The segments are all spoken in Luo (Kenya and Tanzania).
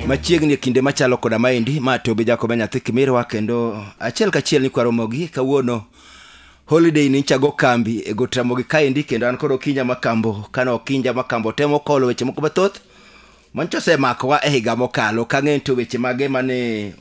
machiegni e kinde machalo koda maendi ma tobe jakoba nyathi kimirwa kendo achiel kachiel nikwaromogi kawuono holiday ni chago kambi e got ramogi kaendi kendo an kod okinja makambo kane okinja makambo temo kolo weche moko mathoth manyicha osemakowa e higa mokalo kang'e to weche mage mane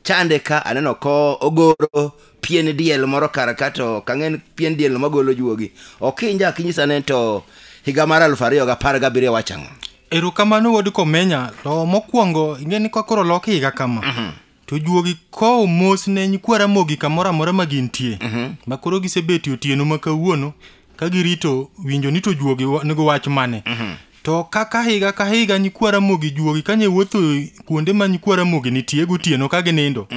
chande ka aneno ko ogoro pien diel moro kar ka to kang'en pien diel no magolo juogi okinja akinyisa ne to higa mar aluf ariyo gi apar gabiriyo wach ang'o erokamano wuod komenya to mokwongo ing'e ni kakoro lok higa kama to juogi kowo mos ne nyikwa ramogi kamoro amora ma gintie ma koro gisebeti otieno ma kawuono ka girito winjo ni to juogi wa- nigo wach mane To kaka higa ka higa nyikwa Ramogi juogi kanye wuotho kuonde ma nyikwa Ramogi nitie gotieno ka ginindo.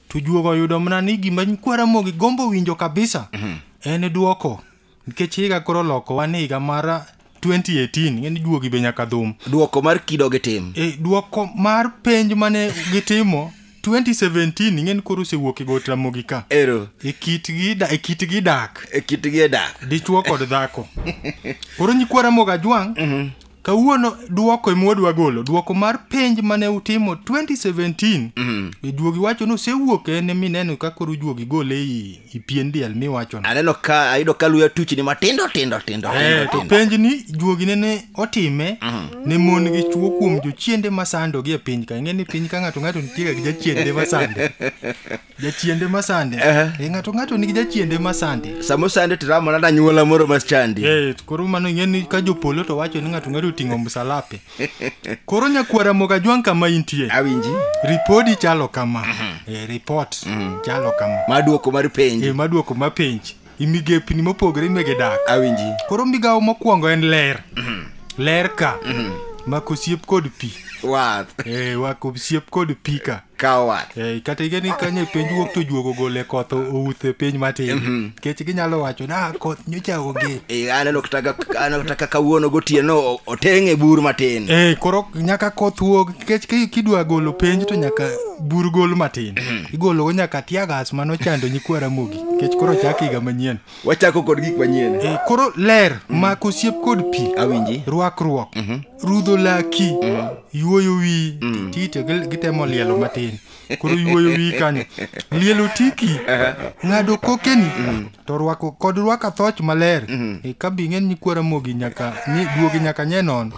To juogo oyudo mana ni gima nyikwa Ramogi gombo winjo kabisa en duoko. Nikech higa koro loko wan e higa mar 2018 ng'eni juogi be nyaka dhum. Duoko mar kido gi tim. E, duoko mar penj mane gitimo 2017 ing'eni koro osewuok e got ramogi ka ero e kitgi da- e kitgi dak e kitgi e dak dichwo kod dhako koro nyikwa ramogi ajwang' kawuono duoko ema wadwa golo duoko mar penj mane utimo 2017 e juogi wacho ni osewuok en ema ineno ka koro juogi gole i ipien diel miwachono aneno ka ayudo ka luya tuchni matindo tindo tindo Eh, tindo to tindo. penj ni juogi nene otime ne mon gi chuo kuom jochiende masando gi e piny ka ing'e ni piny ka ng'ato ng'ato nitiega gi jachiende masande jachiende masande Eh. Eh, ng'ato ng'ato nigi jachiende masande sama osande tiramo nada nyuola moro machandi Eh, to koro mano ing'e ni ka jopolo to wacho ni ng'ato ng'ato oting'o msalape Koro nyakwara moga jwang' kama intie. Awinji. Ripodi chalo kama. Eh, report chalo kama. Madwoko mar penj. Eh, madwoko ma penj. Imigepni mopogore imege dak. Awinji. Koro migawo mokwongo en ler. Ler ka. Mako osiep kod pi. Wath. Eh, wako osiep kod pi ka. kawo wath Eh, kata igeni kanye piny wuok to juogo gole koth outh e piny matin kech ginyalo wacho na koth nyocha onge Eh, aneno kata ka- aneno kata kaka wuono gotieno o- oteng' e bur matin Eh, koro nyaka koth wuog kech ki- kidwa golo penj to nyaka bur gol matin igologo nyaka tiagas mano chando nyikwa ramogi kech koro chak higa manyien wachako kod gik manyien Eh, koro ler mak osiep kod pi awinji rwakruok rudho laki yuoyo wi tite gil- gitemo lielo matin koro yuoyo wi kanyo lielo tiki ng'ado kokeni to rwako kod rwaka thoch maler E, ka bi ng'eny nyikwara mogi nyaka ni- duogi nyaka nye nono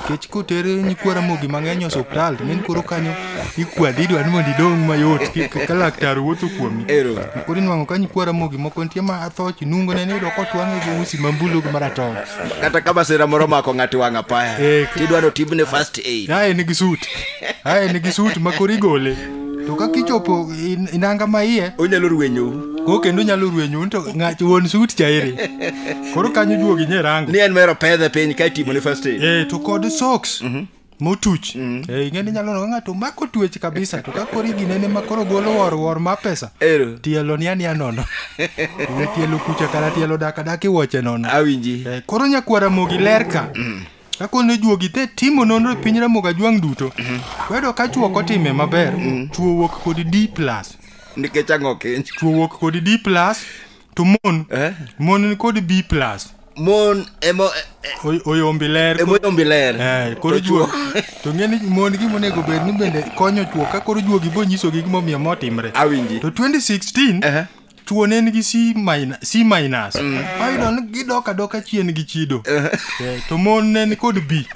kech koter nyikwara mogi mang'eny e osuptal to ng'eny koro kanyo ikwadi idwa ni mondo idong mayot ki- ka laktar wuotho kuomi Ero. koro inwang'o ka nyikwa ramogi moko nitie ma athoch nungo ne niyudo kotwang'e gi usi mambulu gi maratong kata ka masira moro mako ng'ato wang' apaya Eh, k- tidwa notimne first aid ae nigi sut ae nigi sut ma koro igole to ka kichopo in- inanga ma iye onyalo rwenyou ko kendo nyalo rwenyu to ng'at wuon sut chairi koro kanyo juogi nye rango ni en mero pedhe piny ka itimone first aid Eh, to kod socks motuch mm. e, ing'e ni nyalo noga ng'ato mako tuech kabisa to ka koro iginene ma koro golo wor wor ma pesa Ero. tielo ni ania nono ne tielo kucha kata tielo daka daka iwoche nono awinji e, koro nyakwara mogi ler ka mm. ka koro ne juogi te timo nonro e piny ramogi ajwang' duto mm -hmm. kwedo ka chuo kotime maber mm. chuo wuok kod d plus nikech ang'o kiny chuo wuok kod d plus to mon eh? mon ni kod b plus mon emo eh, Oy- oyombi ler emo yombi ler Eh, koro To juok to ng'e ni mon gi monego bed ni bende konyo chuo ka koro juogi bo nyisogi gimomiyo motimre awinji to 2016 Eh. chuo ne en gi c minus, c minus. ayudo ni gidok adoka chien gi chido Eh, to mon ne en kod b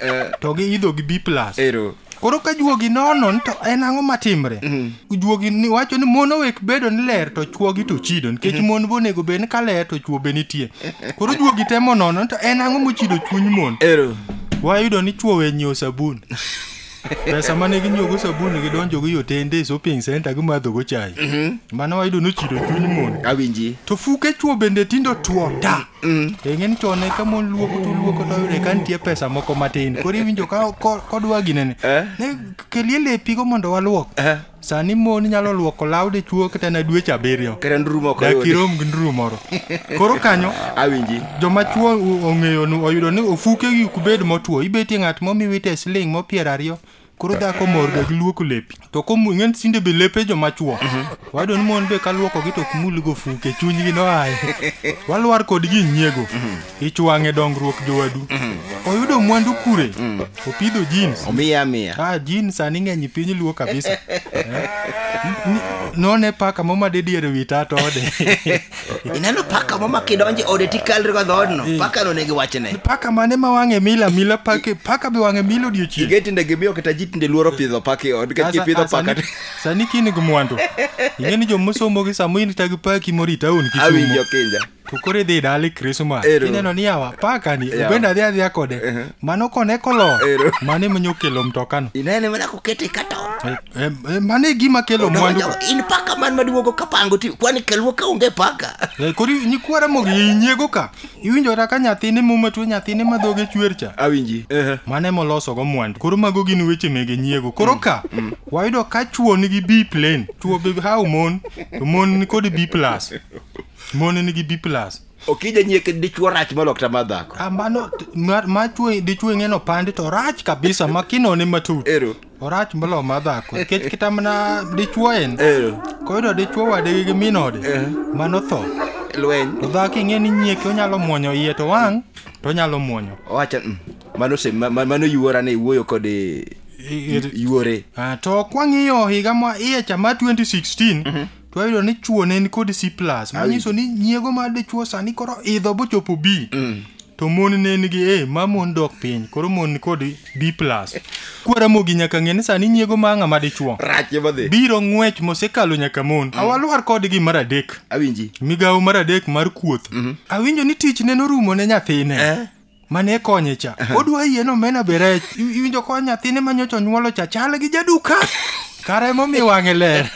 to giidho gi b plus ero koro ka juogi nonon to en ang'o matimre mm. juogi ni wacho ni mon owek bedo ni ler to chuogi to chido nikech mm-hmm. mon bonego bed ni ka ler to chuo be nitie koro juogi temo nono to en ang'o mochido chuny mon wayudo ni chuo wenyiewo sabun pesa mane ginyuogo sabun gidonjogo yo tende e shopping center gimadhogo chai mm-hmm. mano wayudo nochido chuny mon awinji to fuke chuo bende tindo tuo ta Mm. E ng'eni chon ne ka mon luoko to luoko to yude ka nitie pesa moko matin. Koro iwinjo ka ko- kodwa ginene. Eh. Ne kelie lepigo mondo waluok. Eh. Sani mon nyalo luoko law dichuo kata na dweche abiriyo. Kata nduru moko Dak yudi. irom gi nduru moro. Koro kanyo Awinji. joma chuo o- ong'eyo nu oyudo ni ofuke gi kubed motwo ibetie ng'at momiwite siling mopiero ariyo koro dhako morga gi luoko lepi to komung'en sinde be lepe joma chuo mhm. wayudo ni mon be ka luokogi to ok mulgo fuke chunygi noaye walwar kodgi nyiego mhm. ichwang'e dongruok jowadu mhm. oyudo mwandu kure opidho jeans omiya miya ah jeans sani ng'eny piny luo kabisa eh? none paka moma de diere wi tat ode ineno paka mo ma kidonje ode tikalri go dhoodno paka no negi wachne paka mane ma wang'e mila mila pake paka be wang'e mila odiochieng ige tinde gimiyo kata ji tinde luoro pidho paka e od nikech kipidho paka to- sani kini gi mwandu ing'e ni jomosomo gi sama in tagi paki mori taon awinjo kisumo kinja to koro idhi dali krismas Ero. ineno ni yawa paka ni Yawa. obende adhi adhiya kode mano kone kolo Ero. mane manyokelo mtokano inene mana kokete kata Eh, eh, mano e gima kelo mwandu ka. in paka man maduogo kapango ti kwani kelwo ka onge paka Eh, koro nyikwara mogo inyiego ka iwinjora ka nyathine muma tuo nyathine ma dhoge chwer cha awinji mano ema olosogo mwandu koro mago gin weche mege nyiego koro ka wayudo ka chuo nigi b plane chuo be how mon to mon nikod b plus mon nigi b plus okija nyieke dichuo rach molok tama dhako Ah, mano t- ma- ma chuo dichuo ing'eno pande to rach kabisa ma kinone matut orach moloyo mar dhako nikech kita mana dichuo en Eh, koyudo dichuo wadgi gi min ode Eh. mano tho lweny to dhako ing'e ni nyieke onyalo muonyo iye to wang' to onyalo muonyo owacho mm, mano se- ma- ma- mano yuora ne iwuoyo kod eh, I- i- yuore Ah, to kwang'iyo higa ma iye cha ma 2016 to ayudo ni chuo ne en kod c plus manyiso ni nyiego mar dichuo sani koro idho bochopo b to mon ne nigi e ma mon dok piny koro mon ni kod b plus kwaramogi nyaka ng'e ni sani nyiego ma ng'ama dichuo rach ema dhi biro ng'wech mosekalo nyaka mon awalwar kodgi mar adek awinji migawo mar adek mar kuoth awinjo ni tich ne norumo ne nyathine Eh. mane konye cha odwa yien omena be rech I- iwinjo ko nyathine ma nyocha onyuolo cha chal gi jaduka kara emomiyo wang'e ler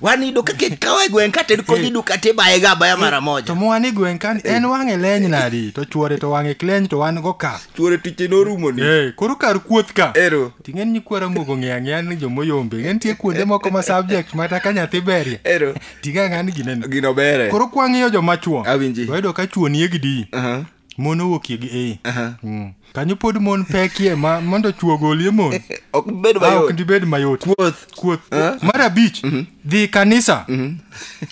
wan iyudo kaka ikawo e gweng' kated kodhi duka tibaye ga abaya mara to moja mwan e gweng' kani en wang'e leny nadi to chuore to wang'e kleny to wan go ka chuore tiche norumo ni Eh, koro kar kuoth ka ero ting'en nyikwara mogo ng'eya ng'eya ni jomoyombe ng'e nitie kuonde moko ma subject mata ka nyathi berie ero tiga ng'ani gineno gino bere koro kwang'iyo joma chuo Awinji. wayudo ka chuo nie gi di Aha, mon owuokie gi e aha. Mm. kanyo pod mon pekie ma mondo chuo golie mon ok bed Ah, ok mayot ndibed mayot kuoth kuoth Ah. mar abich dhi kanisa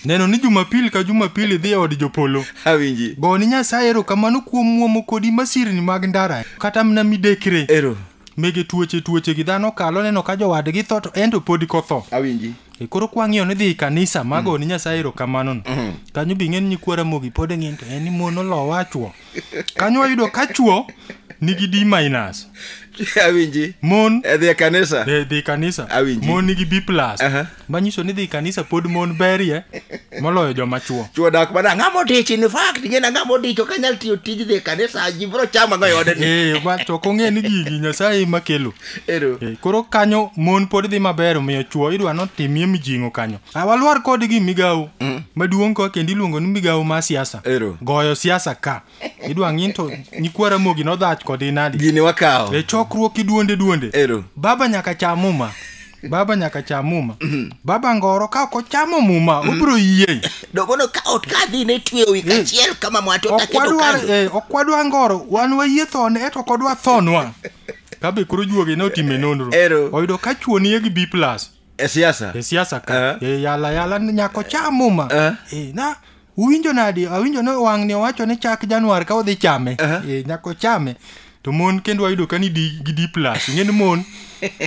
neno ni jumapil ka jumapil idhi e od jopolo awinji goni nyasaye ero kamano kuom muomo kodi masirni mag ndara kata mna midekre ero mege tuoche tuoche gi dhano kalo neno ka jowadgi tho to en to pod kotho awinji E, koro kwang'iyo ni dhi i kanisa mago ni nyasaye erokamano no kanyo bi ng'e ni nyikwa ramogi pod ng'eny to en ni mon olowa chwo kanyo wayudo ka chwo nigi d minus awinji mon edhi e kanisa e, dhi i kanisa Awinji. mon nigi b plus Aha. manyiso ni dhi kanisa pod mon berie moloyo joma chuo chuo dak mana ng'a modich in fact gin ng'a modich ok anyal tiyo tij dhi e kanisa ji bro chama go yode ni eh ba to kong'e ni gigi nyasaye ema kelo ero eh, koro kanyo mon pod dhi maber omiyo chuo idwa no timie mijing'o kanyo ah, walwar kodgi migawo mm. maduong' ko kendo iluongo ni migawo ma siasa ero goyo siasa ka idwa ng'in to nyikwa ramogi nodhach kodi nadi gini wakawo e chokruok iduonde duonde Ero. baba nyaka cham muma baba nyaka cham muma baba ngoro ka ok ochamo muma obiro yieng dogono ka ot ka dhi ne tweyo wi kachiel kama mwato ok taketo wadwar kando eh, ok wadwa ngoro wan wayie thone eto ok odwa thonwa kabe koro juogi ne otime nonro Ero. oyudo ka chuo nie gi b plus e siasa e siasa ka Eh. e yala yala ni nyako cha muma Eh. e, na uwinjo nadi awinjo ni wang'ni owacho ni chak januar ka odhi chame Eh. e, nyako chame to mon kendo wayudo ka ni di, gi d plus ing'e ni mon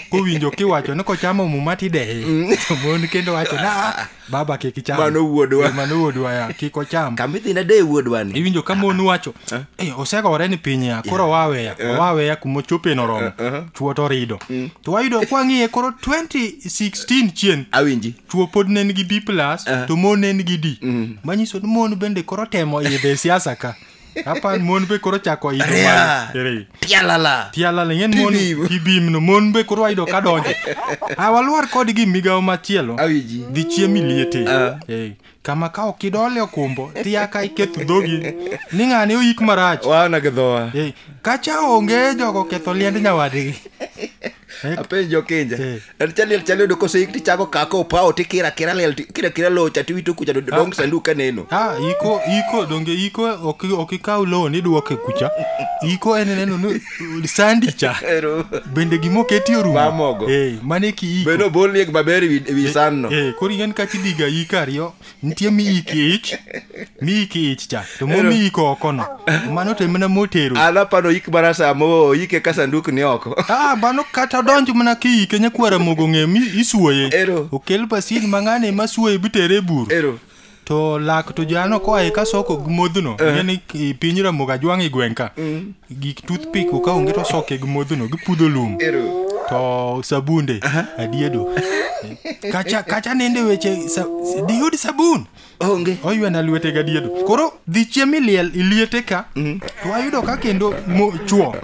kowinjo kiwacho ni kochamo muma tideye to mon kendo wacho na baba kik icham Mano wuodwa. Eh, mano wuodwa ya kik ocham kamidhi nade e wuodwani iwinjo ka mon wacho "Eh, osegore ni piny ya koro waweya waweya kuma ochope noromo chuo to rido to wayudo kwang'iye koro 2016 chien awinji chuo pod ne nigi b plus to mon ne nigi d manyiso ni mon bende koro temo idhe e siasa ka apan mon be koro chako idho Rea. malo. Ere. Tialala. tialala ng'en mon Tibim. tibim no mon be koro ayudo ka donje a walwar kod gi migawo machielo Awiji. dhi chiemi liete Ah. Eh, kama ka ok idole okumbo tiya ka iketho dhogi ni ng'ane oyik marach Waona gi dhowa. Eh, kacha onge jogo ketho liend nyawadgi apenjo kinja Eh. en chaliel chaliel yudo koseik tichako kako opawo tikira kira liel ti- kira kira locha tiwito kucha to dong sanduk kaneno Ah, iko iko donge iko ok ok ikaw loan iduoke kucha iko en neno ni sandi cha Ero. bende gimoketi orumo Mamogo. eh mane ki iko beno bol liek maber ewi ewi sanno eh kori en kachi diga iko ariyo nitie miyi kich miyi kich cha to momiyi kokono mano to emana motero an apano yik mana samo yike ka sanduk ni oko ah mano kata donj mana kiyike nyakwara mogo ng'e mi isuoye Ero. okel pasin mang'ane ma suoye bitere e bur ero to lak to jano koa e kasoko modhno ne ni i- piny ramoga jwang' i gweng' ka gik toothpick ka onge to soke gi modhono gipudho lum to sabunde adiedo kacha kacha nende weche sa- diyud sabun onge oywana lwete gadiedo koro dhi chiem iliel iliete ka to ayudo ka kendo mo- chuo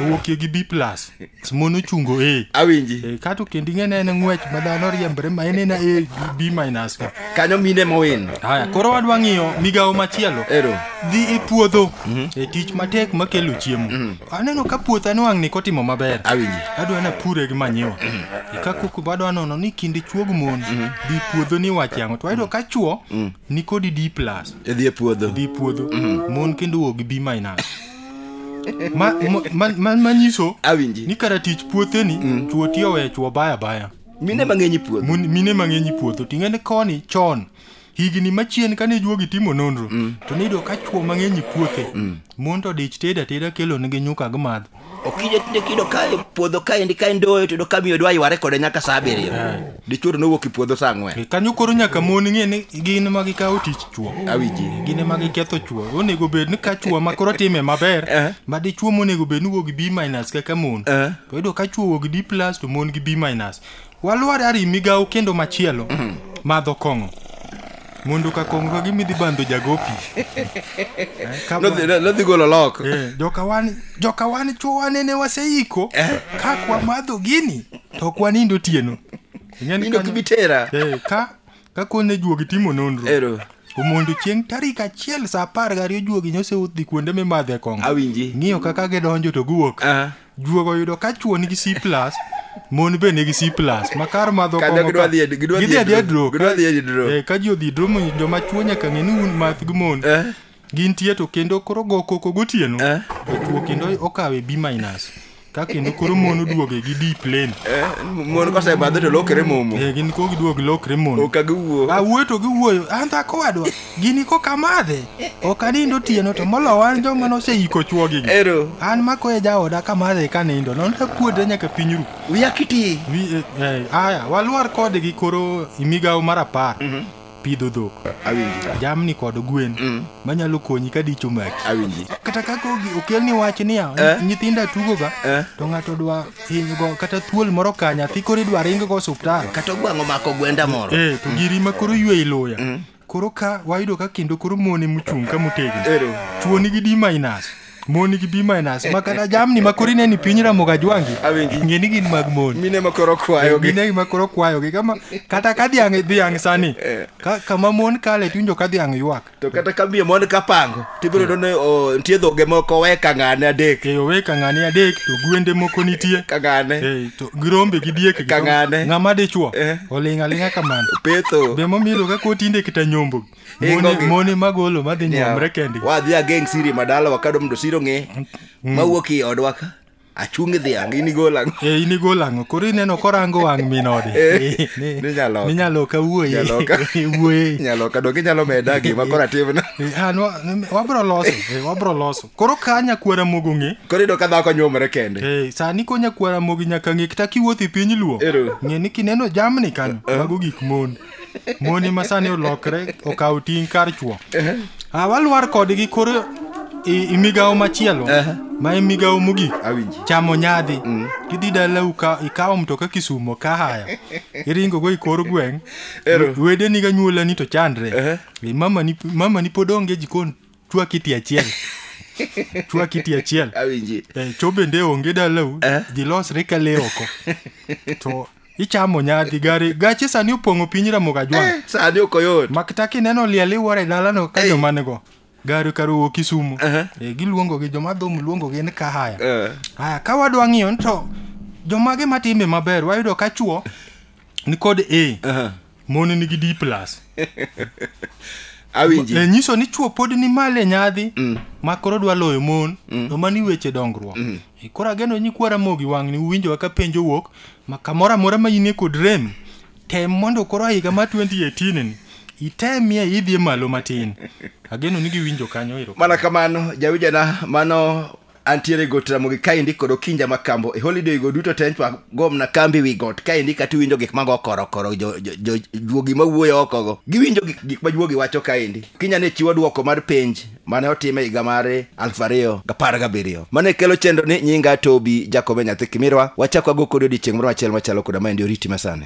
owuokie gi b plus mon ochungo e awinji e, kato kendo ing'ene en ng'wech ma dhano riembre ma en ena e b minus ka kanyo mine mowin haya koro wadwa ng'iyo migawo machielo ero dhi e puodho mhm. e tich matek makelo chiemo mhm. aneno ka puotha nwang'ni kotimo maber awinji adwa na pure gi manyiwa mhm. e ka kuku badwa nono ni kinde chuog mon dhi puodho ni wach yang'o to ayudo ka chuo nikodi d plus e dhi e puodho e dhi e puodho mon kendo wuog gi b minus ma, ma, ma, ma, manyiso awinji ni kara tich puotheni mm. chuo tiyo wee chuo baya baya mine mang'eny puodho Mun- mine mang'eny puodho ting'e ni koni chon higni machien kane juogi timo nonro mm. to niyudo ka chuo mang'eny puothe mm. mon to dich tedo ateda kelonigi nyuka gimadho okija tinde kido kae puodho kaendi kae ndoyo to yudo ka miyo dwa yware kode nyaka saa abiriyo dichuo to nowuok e puodho saa ang'wen kanyo koro nyaka mon ng'e ni gin ema gikawo tich chuo awinji gin ema giketho chuo onego bed ni ka chuo ma koro time maber Eh. ma dichuo monego bed ni wuo gi b minus kaka mon Eh. to yudo ka chuo wuo gi d plus to mon gi b minus walwar ari migawo kendo machielo madho kong'o Mundu ka kongo ka gimidhi bandho jagopi. Eh, ka Nodhi- bwa- nodhi golo lok Eh, joka wan joka wan chuwa nene waseiko ka kwa madho gini to ok wanindo tieno. Ing'e ni Nindo kanyo- kibitera. Eh, ka ka kone juogi timo nonro. Ero. Omondo chieng' tarik achiel sa apar gariyo juogi nyoseudhi kuonde mimadhe kongo. Awinji. Ng'iyo kaka gidonjo to giwuok. Ah. Juogo oyudo ka chwo nigi C+, mon be nigi C+, ma kar madho Kata kong'o gidwa ka- dhi e- gidwa dhi e gidhi adhiya dro- drop. gidwa dhi e dro. Eh, Ka ji odhi dro, mo- joma chwo nyaka ng'e ni un math gi mon. Eh. Gintie to kendo koro go koko gotieno. Eh. To chwo kendo okawe B-. Ka kendo koro mon oduoge gi D plane. Eh, mon kosebadho to lokre momo Eh, gin ko giduog lokre mon. okagiwuo Awuoyo to giwuoyo, an dhako wadwa. gini koka madhe ok anind otieno to molo wan joma noseiko chuogi gi Ero. an mako e jaoda ka madhe ka nindo non ta kuodre nyaka piny ru Wiya kiti. Wi- eh, eh, aya walwar kode gi koro migawo mar apar pidho dhok Awinji. jamni kod gwen Mm. manyalo konyi ka dicho maki Awinji. kata kaka ogi- okelni wach niya Eh? nyithindo atugoga Eh? to ng'ato dwa hinygo kata thuol moro ka nyathi koro idwa ringgo osuptal Kata ogwango mako gwenda moro. eh to giri ma koro ywe iluya Koro ka wayudo ka kendo koro mon ema ochung' ka motegno. Ero. Chwo nigi D minus. Mon nigi B minus. Ma kata jamni ma koro ineno ni piny Ramoga Jwangi. Awinji. Ng'e ni gin mag mon. Mine ma koro kwayo gi. Mine ma koro kwayo gi. Kama kata ka dhiang' dhiang' sani. Ka kama mon kale tiwinjo ka dhiang' ywak. To kata ka bie mon kapango. tibiro yudo ni oh, nitie dhoge moko we kang'ane adek e owe kang'ane adek to gwende moko nitie kang'ane Eh, to girombe gi diek gi Kang'ane. rombe. ng'ama dichuo Eh. oling' aling'a kamano petho be momielo ka kotinde kita nyombo Ingo mone, gi- mone magolo madhi nyomre kendgi wadhi ageng siri madala wakado mondo siro ng'e mawuok i odwa ka achung' dhiang' in igol ang'o e in igol ang'o koro ineno korango wang' min ode eh, eh, ninyaloka ninyaloka wuoye wuoye nyaloka donge inyalo meda gima koro atimno eh, ah, wabro loso wabro loso koro ka nyakwara mogo ng'e koro yudo ka dhako nyuomre kende sani ko nyakwara mogo nyaka ng'e kata kiwuotho e piny luo ng'e ni kineno jamni kanyo mago gik mon moni masani olokre okawo ting' kar chwo ah, walwar kodgi koro i migawo machielo ma i migawo mogik chamo nyadhi mm. idhi dala ikawo mtoka kisumo ka haya iringogo i kor gweng' wedeniga nyuolani to chandre mamani pod onge jikon chwa kiti achiel chwa kiti achiel awinji Eh, cho bende onge dalau Eh. ji losre ka le oko to ichamo nyadhi gari gache sani opong'o piny ramogo ajwang' Eh, sani ok oyot makta kineno liel iwuoro e dalano ka Ei. joma nigo gari kar owuok kisumu Aha. Eh, giluongogi joma dhum luongogi ni kahaya Eh, haya ka wadwa ng'iyo ni to jomage matime maber wayudo ka chuo nikod a aha. mon nigi d plus awinji e nyiso ni chuo pod ni male nyadhi mm. ma koro dwa loyo mon mm. to mani weche dongruok mm. e, koro ageno nyikwara mogi wang'ni uwinjowa ka penjo wuok ma kamoro amora ma inie kod rem tem mondo koro higa ma 2018 ni itemie idhie malo matin ageno ni giwinjo kanyo ero mana kamano jawinjana mano antiere e got ramogi kaendi kod okinja makambo e holiday go duto te nchwa gomna kambi wi got kaendi kata iwinjo gik mago korokoro jo- jo- jo- juogi mawuoyo okogo giwinjo gik gik ma juogi wacho kaendi kinya ne chiwo dwoko mar penj mane otime higa mare aluf ariyo gapar gabiriyo mane kelo chenro ni nyinga tobi jakobe nyathi kimirwa wachako ago kodi odiechieng' moro achiel machalo koda maendi oriti masani